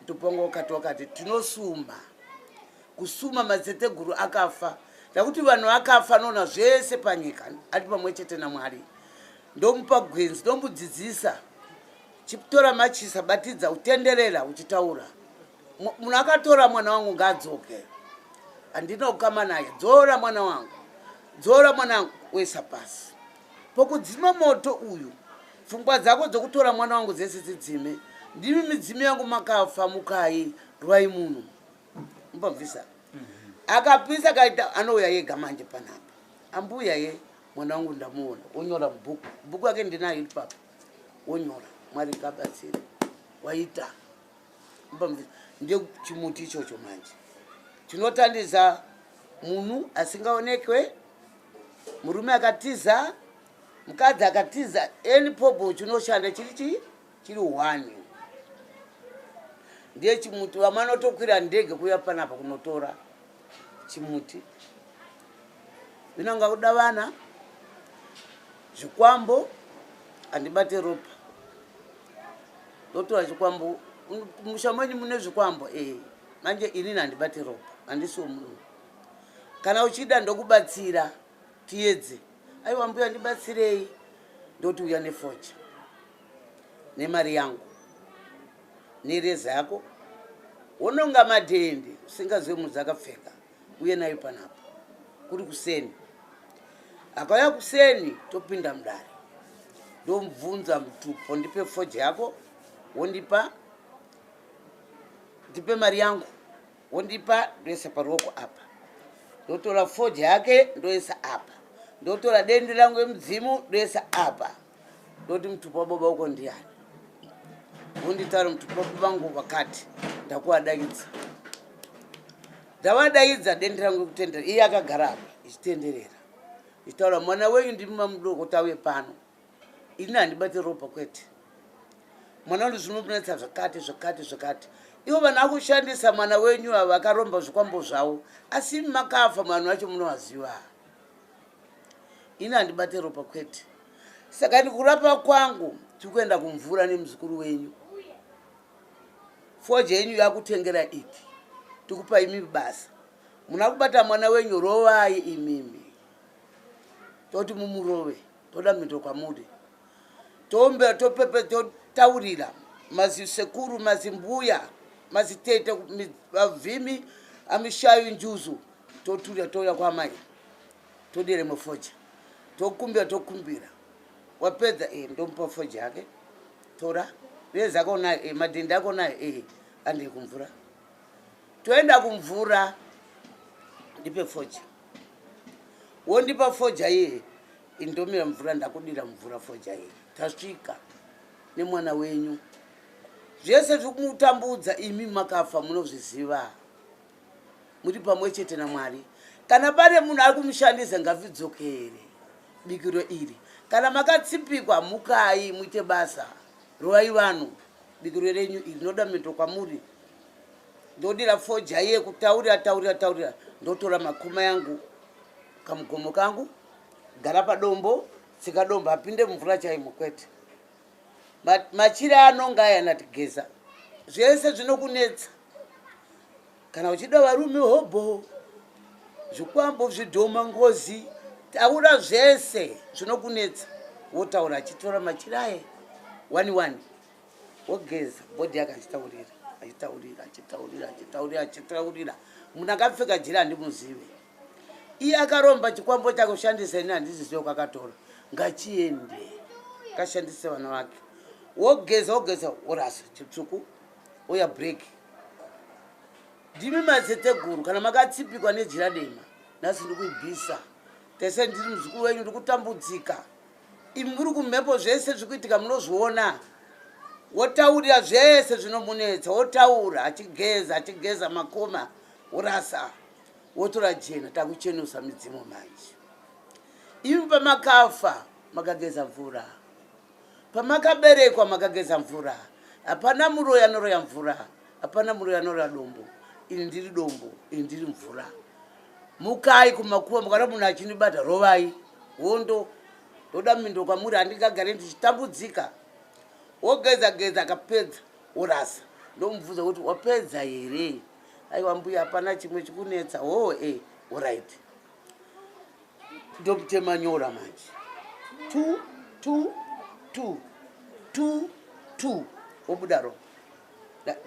Mutupongo ukati wakati tinosumba kusuma madzeteguru akafa nekuti vanhu vakafa anoona zvese panyika ari pamwe chete namwari ndomupa gwenzi ndomudzidzisa chitora machisa batidza utenderera uchitaura munhu akatora mwana wangu ngaadzoke handina kukama naye dzora mwana wangu dzora mwana wangu wesa pasi pokudzima moto uyu pfungwa dzako dzokutora mwana wangu dzese dzidzime ndimi midzimu yangu makafa mukai rwai munhu mbabvisa mhm. akapisa kaita anouya yega manje panapa ambuya ye mwana wangu ndamuona onyora mubhuku bhuku yake ndinayo ipapa onyora mwari ngabatsire waita mbabvisa ndio chimuti ichocho manje chinotandidza munhu asingaonekwe murume akatiza mukadzi akatiza any problem chinoshanda chiri chii chiri one ndiye chimuti vamanotokwira ndege kuya panapa kunotora chimuti vinonga kuda vana zvikwambo handibate ropa ndotora chikwambo musha mwenyu mune zvikwambo e manje inini handibate ropa handisiwo munhu kana uchida ndokubatsira tiyedze aiwa mbuya ndibatsirei ndoti uya nefocha nemari yangu nereza yako wononga madhende usingazive munhu dzakapfeka uye nayo panapo kuri kuseni akauya kuseni topinda mudare ndomubvunza mutupo ndipe foja yako wondipa ndipe mari yangu wondipa ndoisa paruoko apa ndotora foji yake ndoisa apa ndotora dendi langu yemudzimu ndoisa apa ndoti mutupo wababa uko ndiyani wonditaura mutupo wababa vangu vakati ndakuwadaidza ndavadaidza dendi rangu yekutendera iye akagara apa ichitenderera ichitaura mwana wenyu ndimumamudoko tauye pano ini handibate ropa kwete mwana uri zvinonetsa zvakati zvakati zvakati ivo vanhu akushandisa mwana wenyu ava akaromba zvikwambo zvavo asi imi makafa vanhu vacho munovaziva ini handibate ropa kwete saka ni kurapa kwangu tiri kuenda kumvura nemuzukuru wenyu foja yenyu yakutengera iti tikupa imi basa muna kubata mwana wenyu rovai imimi toti mumurove toda mhinduro kwamuri tombe topepe totaurira mazisekuru mazimbuya mazitete vavhimi amishayo njuzu toturira touya kwamai todire mufoja tokumbira tokumbira wapedza e ndomupa foja yake tora vezi ako nayo e madhindi ako nayo e andei kumvura toenda kumvura ndipe foja wondipa foja iye indomira mvura ndakudira mvura foja iye tasvika nemwana wenyu zvese zviri kumutambudza imi makafa munozviziva muri pamwe chete namwari kana pane munhu ari kumushandisa ngavidzokere bikiro iri kana makatsipikwa mukai muite basa rovai vanhu bikiro renyu iri noda mito kwamuri ndodira foja iye kutaurira taurira taurira ndotora makuma yangu kamugomo kangu gara padombo tsika dombo apinde mumvura chaimo kwete machiri anonga aya natigeza zvese zvinokunetsa kana uchida varume hobho zvikwambo zvidhoma ngozi taura zvese zvinokunetsa wotaura achitora machiri aye wani wani wogeza bhodhi yake achitaurira achitaurira achitaurira achitaurira achitaurira munhu akapfeka jira handimuzive iye akaromba chikwambo chake kushandisa ini handizizive kwakatora ngachiende kashandise vana vake wogeza wogeza worasa chitsvuku oya break ndimi mazeteguru kana makatsipikwa nejira dema nhasi ndikuibvisa tese ndiri muzukuru wenyu ndikutambudzika Imi muri kumhepo zvese zvikuitika munozviona. Wotaurira zvese zvinomunetsa, wotaura achigeza achigeza makoma worasa wotora jena takuchenusa midzimu manje. Imi pamakafa makageza mvura. Pamakaberekwa makageza mvura. Hapana muroya anoroya mvura. Hapana muroya anoroya dombo. Ini ndiri dombo, ini ndiri mvura. mukai kumakuva mukana munhu achinibata rovai hondo ndoda mindo kwamuri handingagare ndichitambudzika wogeza geza akapedza worasa ndomubvunza kuti wapedza here aiwa mbuya hapana chimwe chikunetsa hoo e eh, orit ndokutema nyora manje two two two two two wobuda ropa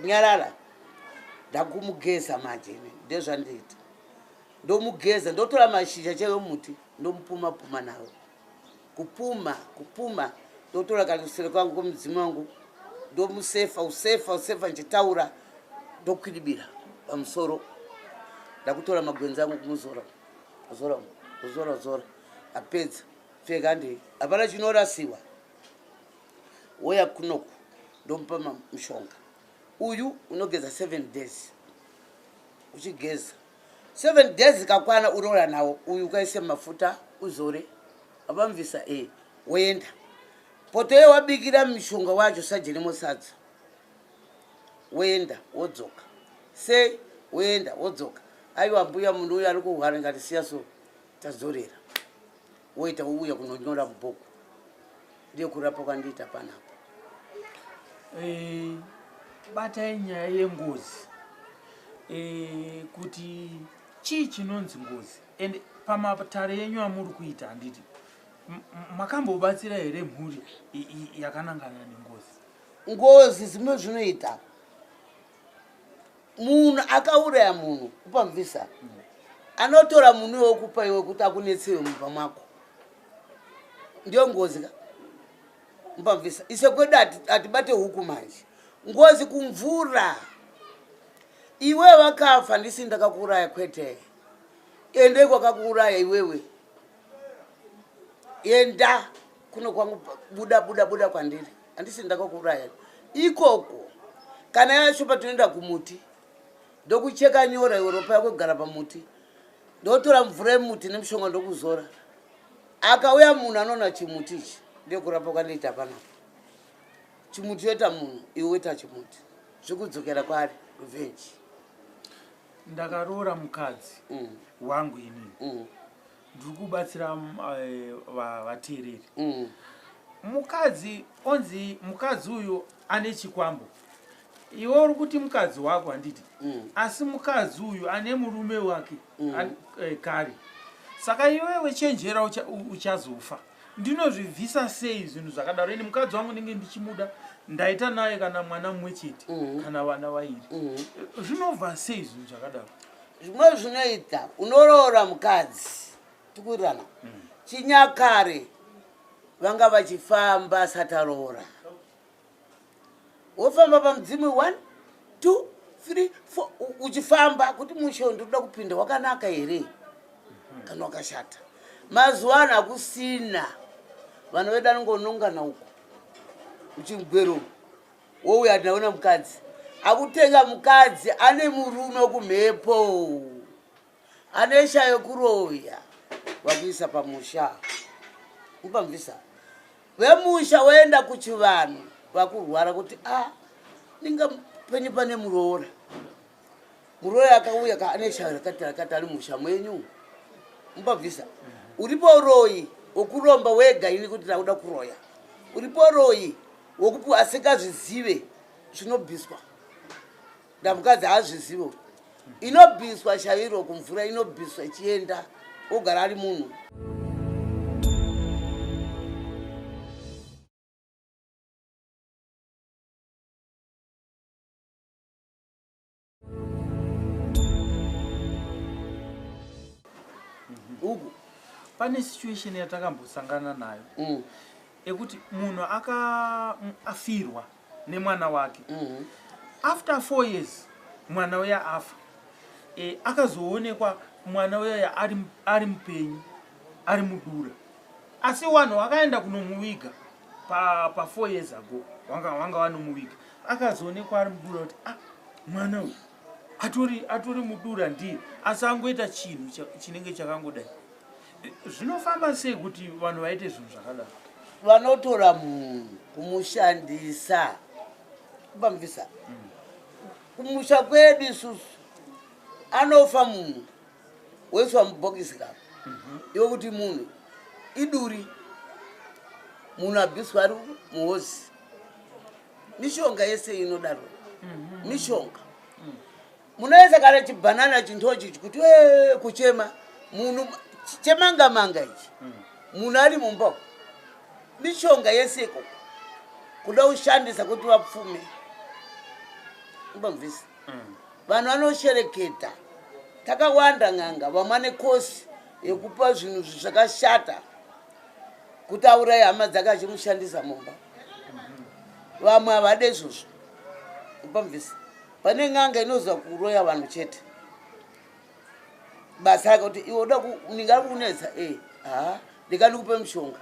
nyarara ndakumugeza manje ini ndezvandiita ndomugeza ndotora mashizha chaive muti ndomupuma puma nawo kupuma kupuma ndotora kana kusere kwangu kwemudzimu wangu ndomusefa usefa usefa ndichitaura ndokwidibira pamusoro ndakutora magwenzi angu kumuzora zora zora zora apedza pfeka ndei hapana chinorasiwa woya kunoku ndomupa mushonga uyu unogeza seven days uchigeza seven days kakwana uroora nawo uyu ukaise mafuta uzore abamvisa e eh, woenda poto ye wabikira mishonga wacho sajenemo sadza woenda wodzoka sei woenda wodzoka aiwa mbuya munhu uyo ari kuhwara ngati siya so tazorera woita wouya kunonyora mubhuku ndiyo kurapa kwandiita panapa eh, batai nyaya yengozi eh, kuti chii chinonzi ngozi and pamatare yenyu amuri kuita handiti makambobatsira here mhuri yakanangana nengozi ngozi zimwe zvinoita munhu akauraya munhu kupa mvisa anotora munhu iwe okupa iwe kuti akunetsewe mumba mwako ndiyo ngozi ka mupa mvisa ise kwedu hatibate huku manje ngozi kumvura iwe vakafa ndisi ndakakuuraya kwete ende kwakakuuraya iwewe enda kuno kwangu buda buda buda kwandiri handisi ndakakuuraya ikoko kana yacho patinoenda kumuti ndokucheka nyora iwe ropa yako kugara pamuti ndotora mvura yemuti nemushonga ndokuzora akauya munhu anoona chimuti ichi ndekurapa kwandiita panapo chimuti yoita munhu iwe woita chimuti zvikudzokera kwari revenge ndakaroora mukadzi mm. wangu inini mm. ndiri kubatsira mm, eh, va- vateereri Mm. mukadzi onzi mukadzi uyu ane chikwambo iwe uri kuti mukadzi wako handiti Mm. asi mukadzi uyu ane murume wake Mm. an- eh, kare saka iwewe chenjera ucha- u- uchazofa ndinozvibvisa sei zvinhu zvakadaro ini mukadzi wangu ndinge ndichimuda ndaita naye kana mwana mumwe chete Mm. kana vana vairi Mm. zvinobva sei zvinhu zvakadaro zvimwe zvinoita unoroora mukadzi tikurirana mm. chinyakare vanga vachifamba sataroora wofamba pamudzimu one two three four uchifamba kuti mushondo ndoda kupinda wakanaka here mhm. kana wakashata mazuva ano hakusina vana vedu anongonongana uko uchimugweromo wouya ati ndaona mukadzi akutenga mukadzi ane murume wokumhepo ane sha yokuroya wakuisa pamusha upamvisa vemusha woenda kuchivanhu vakurwara kuti a ah, ndinga penyu pane muroora Muroyi akauya ka ane shaya rakati rakati ari musha mwenyu. Mubabvisa. Uripo uroyi wokuromba wega ini kuti ndakuda kuroya. Uripo uroyi wokupi asingazvizive zvinobviswa. Ndamukadzi haazvizivo. Inobviswa shairo kumvura inobviswa ichienda ogara ari munhu. uku pane situation yatakambosangana nayo mm. ekuti munhu akaafirwa nemwana wake mm. after four years mwana uya afa e, akazoonekwa mwana uyaya ari, ari mupenyu ari mudura asi wanhu wakaenda kunomuviga pafour pa years ago wanga, wanga wanomuviga akazoonekwa ari mudura kuti ah, mwana uyu atori atori mudura ndiye asi angoita chinhu chinenge chakangodai zvinofamba sei kuti vanhu vaite zvinhu zvakadaro vanotora munhu kumushandisa kubamvisa mm. kumusha kwedu isusu anofa munhu woiswa mubhokisi ka mhm. iwe kuti munhu iduri munhu abhiswa ari muhozi mishonga yese inodaro mhm. mishonga mm. munoyesa kana chibhanana chintochi chikuti e kuchema munhu chemanga manga ichi mm. munhu ari mumba mishonga yese ikoko kuda kushandisa kuti vapfume ubamvisa mm. vanhu vanoshereketa takawanda n'anga vamwa nekosi yekupa zvinhu zvakashata kuti aurai hama dzake achimushandisa mumba vamwe havade izvozvo upamvisa pane n'anga inoziva kuroya vanhu chete basa rake kuti iwe uda ninga ari kukunetsa e eh, ha ndikani kupe mushonga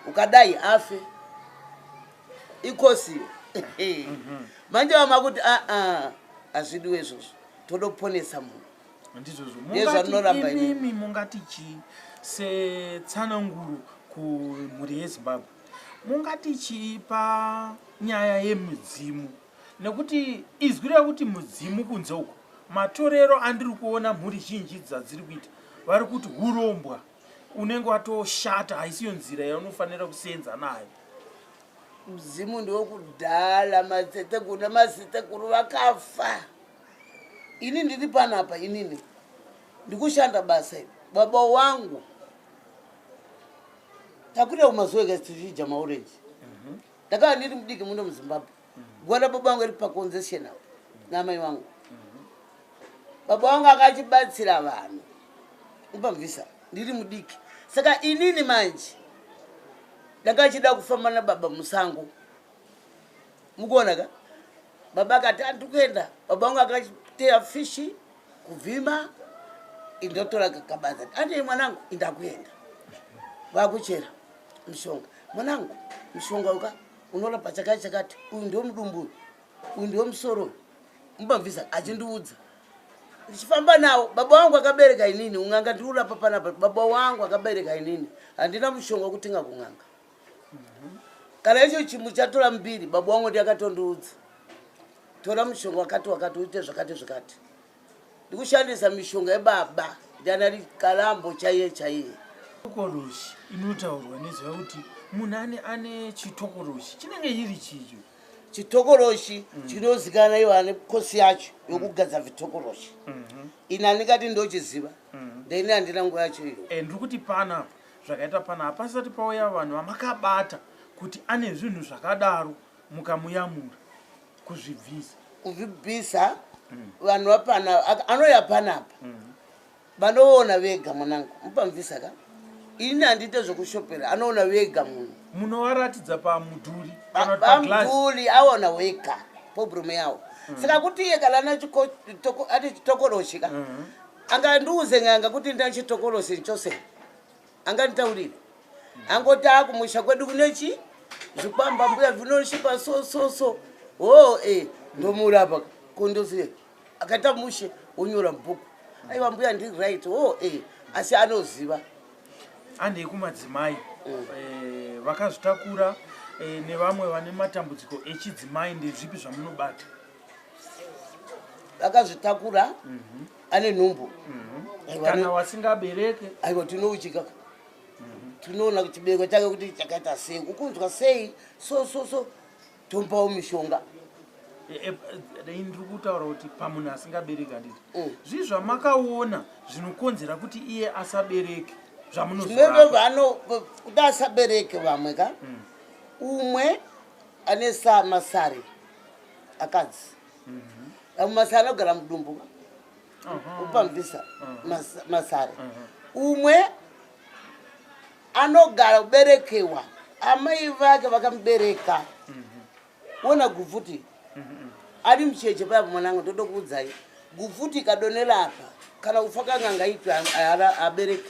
ukadai afe ikosiyo mhm. manje vama kuti aa ah, ah, hazvidiwe izvozvo toda kuponesa munhu ndizvozvondiimi mungati chii setsananguro kumhuri yezimbabwe mungati chii panyaya yemudzimu nekuti izwi rekuti mudzimu kunze uko matorero andiri kuona mhuri zhinji dzadziri kuita vari kuti urombwa unenge watoshata haisiyo nzira yaunofanira kusenza nayo mudzimu ndiwokudala matetekuru nemazitekuru vakafa ini ndiri panapa inini ndikushanda basa iri baba wangu takuda kumazuva ega tichidya maurenji ndakava ndiri mudiki muno muzimbabwe guva rababa vangu iri paconzession apo namai vangu baba vangu akachibatsira vanhu upamvisa ndiri mudiki saka inini manje ndakachida kufamba nababa musango mukuona ka baba akati andi kuenda baba vangu akateya fishi kuvhima indotora kabanza andei mwanangu indakuenda vakuchera mushonga mwanangu mushonga uka unorapa chakati chakati uyu ndiwo mudumbu uyu ndiwo musoro mubamvisa achindiudza ndichifamba nawo baba wangu akabereka inini un'anga ndiri kurapa panapa baba wangu akabereka inini handina mushonga wekutenga kun'anga kana icho chimu chatora mbiri babu wangu ndi akatondiudza tora mushonga wakati wakati uite zvakati zvakati ndikushandisa mishonga yebaba ndianari kalambo chaiye chaiye tokoroshi inotaurwa nezva kuti munhu ane ane chitokoroshi chinenge chiri chicho chitokoroshi mm. chinozikana iwo ane kosi yacho mm. yokugadza vitokoroshi mm-hmm. ini andingati ndochiziva mm-hmm. ndaini handina nguva yacho iyo eh, ndiri kuti panapa zvakaita pana hapasati pauya vanhu vamakabata kuti ane zvinhu zvakadaro mukamuyamura kuzvibvisa kuzvibvisa mm. vanhu vapana anoya panapa mm. vanoona vega mwanangu mupamvisa ka ini handiite zvekushopera anoona vega munhu munovaratidza pamudhuri pamudhuri aona wega pobrume yawo mm. saka kuti iye kana ane chitokoroshi ka mm-hmm. angandiudze n'anga kuti ndina chitokolosi chose anganditaurire angoti akumusha kwedu kune chi zvikwamba mbuya vinochipa so so so hoo e ndomurapa kondozive akaita mushe wonyora mubhuku aiwa mbuya ndiri right hoo e asi anoziva andei kumadzimai mm. eh, vakazvitakura eh, nevamwe vane matambudziko echidzimai ndezvipi zvamunobata akazvitakura mhm. ane nhumbu mhm. kana wasingabereke aiwa tinouchika mhm. tinoona kuti chibereko chake kuti chakaita sei ukunzwa sei so so so tompawo mishonga e, e, dai ndiri kutaura kuti pamunhu asingabereki handiti mm. zvii zvamakaona zvinokonzera kuti iye asabereke zvamunozive vano kuti asabereke vamwe ka mm. umwe ane samasari akadzi vamwe masara anogara mudumbu upamvisa masara umwe anogara kuberekewa amai vake vakamubereka wona gupfuti ari mucheche paya pamwana angu ndoda kuudzai gupfuti ikadonera apa kana kufa kanganga itwa abereke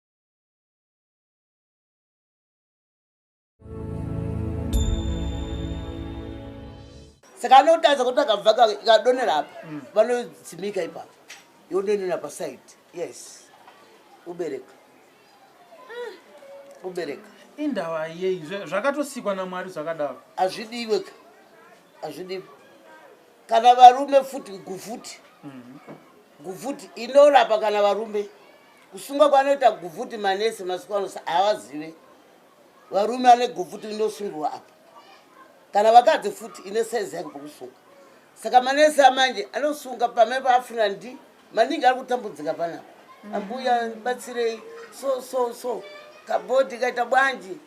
saka anotadza kuti akabva kadonera apa mm. vanodzimika ipapo yodonera paside yes ubereka ah. ubereka indava yei zvakatosikwa namwari zvakadaro hazvidiwe ka hazvidiwe kana varume futi gufuti mm-hmm. gufuti inorapa kana varume Kusungwa kwanoita guvhuti manesi masiku ano havazive. Varume vane guvhuti inosungiwa apa. Kana vakadzi futi ine saizi yake pokusunga. Saka manesi amanje anosunga pamene paafuna ndi maningi ari kutambudzika panapa. Ambuya batsirei so so so kabhodhi kaita bwanji.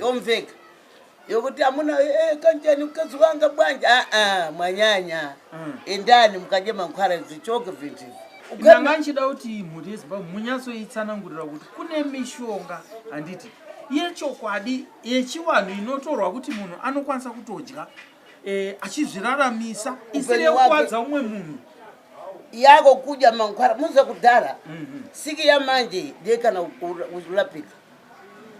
yomveka yokuti amuna eh, kanjani mukadzi wanga bwanje aa ah, ah, mwanyanya mm. endani mukadye mankhwara dzichoke vintu ndanga ndichida kuti mhuri yezimbabwe munyatsoitsanangurira kuti kune mishonga handiti yechokwadi yechivanhu inotorwa kuti munhu anokwanisa kutodya eh, achizviraramisa isiri yekukwadza umwe munhu yako kudya mankhwara muza kudhara mhm. siki yamanje ndekana kurapika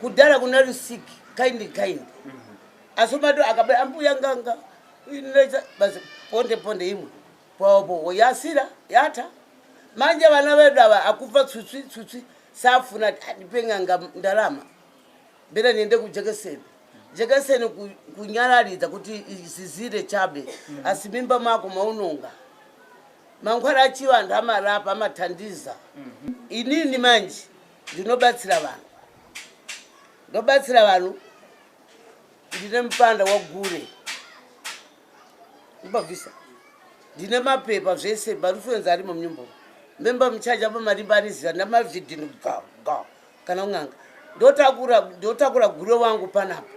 kudhara kuna rusik kind kind mm -hmm. asi umato akaba ambuya nganga inoita basi ponde ponde imwe popopo yasira yata manje vana vedu ava akufa tsutswi tsutswi safuna ati andipe nganga ndarama mbera niende kujekeseni jekeseni kunyararidza kuti izizire chabe mm -hmm. asi mimba mako maunonga mangwara achivanhu amarapa amathandiza mm -hmm. inini manje ndinobatsira vanhu ndobatsira vanhu ndine mupanda wagure mbabvisa ndine mapepa zvese marufuenzi arimo munyumba memba muchaja pamarimba aniziva ndamavhidhini ga ga kana unganga ndotakura ndotakura gure wangu panapa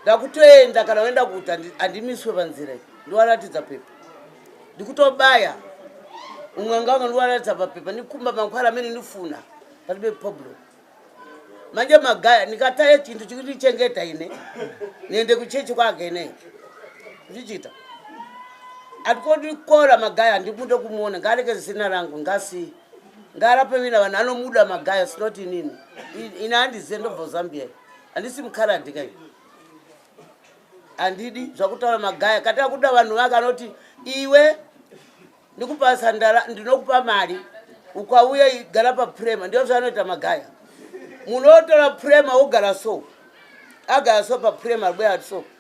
ndakutoenda kana waenda kuti handimiswe panzira i ndiwaratidza pepa ndikutobaya umwe anga wanga ndiwaratidza papepa ndikumba makwara amene ndifuna pati bepoblem manje magaya ndikataya chintu chikundichengeta ine niende kuchechi kwake ine ndichiita atikondikora magaya handimude kumuona ngaareke zina rangu ngasi ngaarapemina vanhu anomuda magaya sinoti inini ine handizive ndobva zambia handisi mukhalandi kai handidi zvakutaura magaya kati akuda vanhu vake anoti iwe ndikupa sandara ndinokupa mari ukauya igara paprema ndiyo zvaanoita magaya munotora prema wogara so agara so paprema ribweya so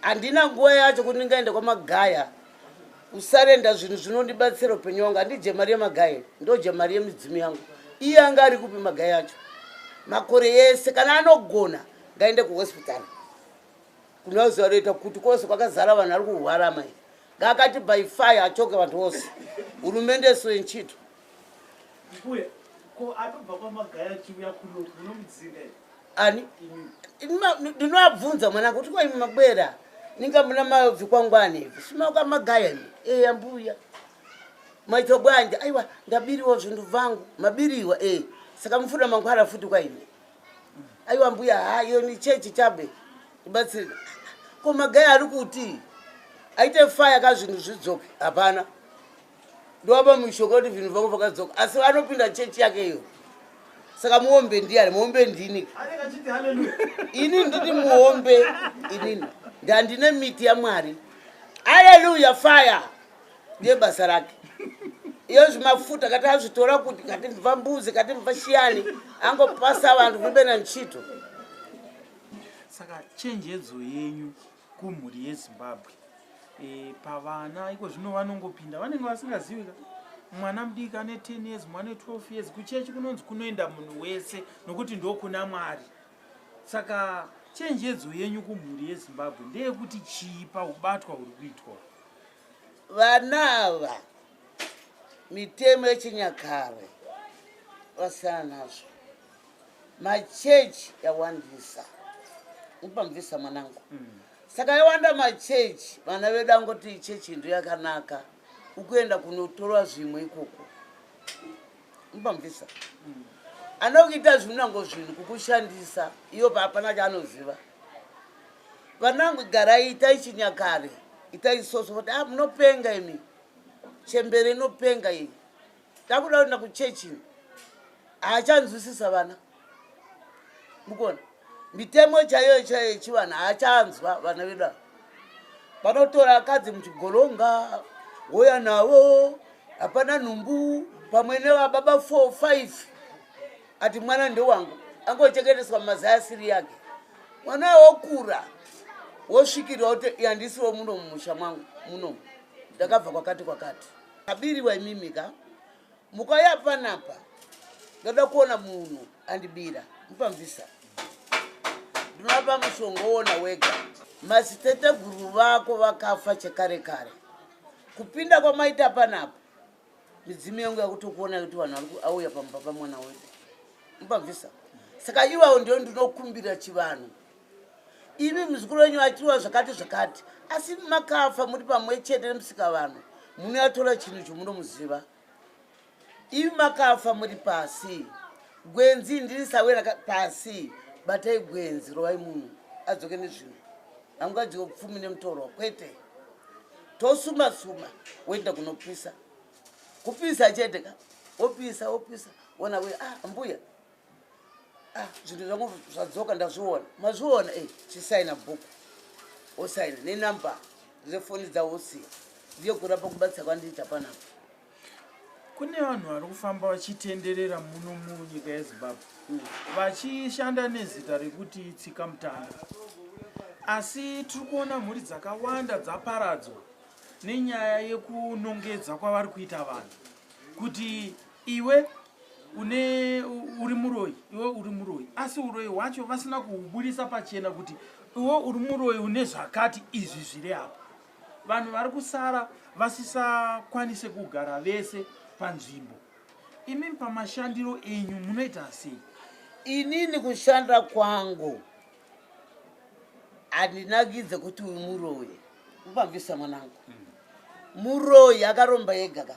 handina nguva yacho kuti ndingaenda kwamagaya kusarenda zvinhu zvinondibatsira upenyu wangu handidye mari yemagaya ndodya mari yemidzimu yangu iye anga ari kupi magaya acho makore yese kana anogona ngaende kuhospital kunozuva roita kuti kwose kwakazara vanhu ari kuhwara mai ngaakati by fire achoke vanhu vose hurumende so yenchito ani ndinoabvunza mwana kuti kwa imi mabwera ninga muna mabvi kwangwani ivi simauka magaya ni eya eh, mbuya maitwa bwanje aiwa ndabiriwa zvinhu vangu mabiriwa e eh. saka mufuna mangwara futi kwa imi aiwa mbuya ha iyo ni chechi chabe ibatsiri ko magaya ari kuti aite faya ka zvinhu zvidzoke hapana ndovapa mushonga kuti zvinhu vangu vakadzoka asi anopinda chechi yake iyo saka muombe ndiani muombe ndini ini ndini muombe inini ndandine miti yamwari aleluya fire ndiye basa rake iyo zvimafuta kati azvitora kuti kati mva mbuzi kati mva shiyani angopasa vanhu vibena nchito saka chenjedzo yenyu kumhuri yezimbabwe e, pavana iko zvino vanongopinda vanenge vasingazivi ka mwana mudiki ane 10 years mwana 12 years kuchechi kunonzi kunoenda munhu wese nokuti ndokuna mwari saka chenjedzo yenyu kumhuri yezimbabwe ndeyekuti chii paubatwa huri kuitwa vana ava mitemo yechinyakare vasiyana nazvo machechi yawandisa upamvisa mwanangu mm. saka yawanda machechi vana vedu angoti chechi ndo yakanaka ukuenda kunotorwa zvimwe ikoko upamvisa mm. anokuita zvinunango zvinhu kukushandisa iyo paapana chaanoziva vanangu garai itai chinyakare itai soso kuti a ah, munopenga imi chembere inopenga iyi takuda kuenda kuchechi ini haachanzwisisa vana mukona mitemo chaiyo chaiyo yechivanhu haachanzwa vana vedu ava vanotora akadzi muchigolonga woya navo hapana nhumbu pamwe nevababa four five ati mwana ndewangu angochengeteswa mumazai asiri yake mwana wokura wosvikirwa kuti yandisiwo muno mumusha mwangu muno ndakabva kwakati kwakati abiriwa imimi ka mukauya panapa ndoda kuona munhu andibira mupamvisa ndinoapa mushonga woona wega maziteteguru vako vakafa chekare kare kupinda kwamaita panapa midzimu yangu yakutokuona kuti vanhu auya pamba pamwana wedu mupamvisa saka iwawo ndio ndinokumbira chivanhu imi muzukuru wenyu achiwa zvakati zvakati asi makafa muri pamwe chete nemusika vanhu munoyatora chinhu chomunomuziva imi makafa muri pasi gwenzi ndiri sawera pasi batai gwenzi rovai munhu adzoke nezvinhu hangadyiwe pfumi nemutorwa kwete tosuma suma woenda kunopisa kupisa chete ka wopisa wopisa wona we ah mbuya ah, zvinhu zvangu zvadzoka ndazviona mazviona e eh, chisaina bhuku osaina nenumber dzefoni dzaosiya ndiyo kurapa kubatsira kwandiita panapa kune vanhu vari kufamba vachitenderera muno munyika yezimbabwe hmm. vachishanda nezita rekuti tsika mutanda asi tiri kuona mhuri dzakawanda dzaparadzwa nenyaya yekunongedza kwavari kuita vanhu kuti iwe une uri muroyi iwe uri muroyi asi uroyi hwacho vasina kuhubudisa pachena kuti iwe uri muroyi une zvakati izvi zviri apa vanhu vari kusara vasisakwanise kugara vese panzvimbo imi pamashandiro enyu munoita sei inini kushanda kwangu handinakidze kuti uyu muroyi upambisa mwanangu mm. muroyi akaromba ega ka